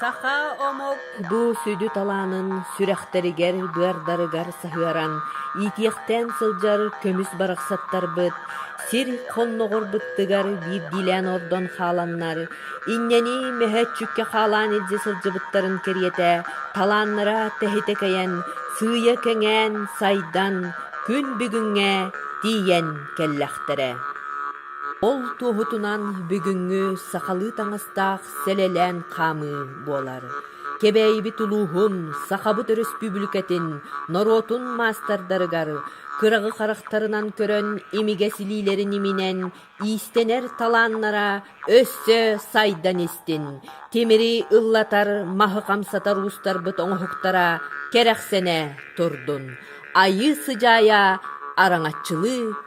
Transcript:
Саха омук бу сүдү талаанын сүрэхтэригэр, быардарыгар саһыаран иитиэхтээн сылдьар көмүс барахсаттарбыт сир хонноҕор быттыгар биирдиилээн ордон хааланнар, иннэни мөһөөччүккэ хаалаан илдьэ сылдьыбыттарын кэриэтэ талааннара тэһитэ-кэйэн, сыыйа кэҥээн, сайдан, күн бүгүҥҥэ тиийэн кэллэхтэрэ. Ол туоһутунан бүгүҥҥү сахалыы таҥастаах сэлэлээн хаамыы буолар. Кэбээйибит улууһун, Сахабыт Өрөспүүбүлүкэтин норуотун маастардарыгар кыраҕы харахтарынан көрөн имигэс илиилэрин иминэн иистэнэр талааннара өссө сайдан истин, тимири ыллатар, маһы хамсатар уустарбыт оҥоһуктара кэрэхсэнэ турдун, айыы-сыдьаайа араҥаччылыы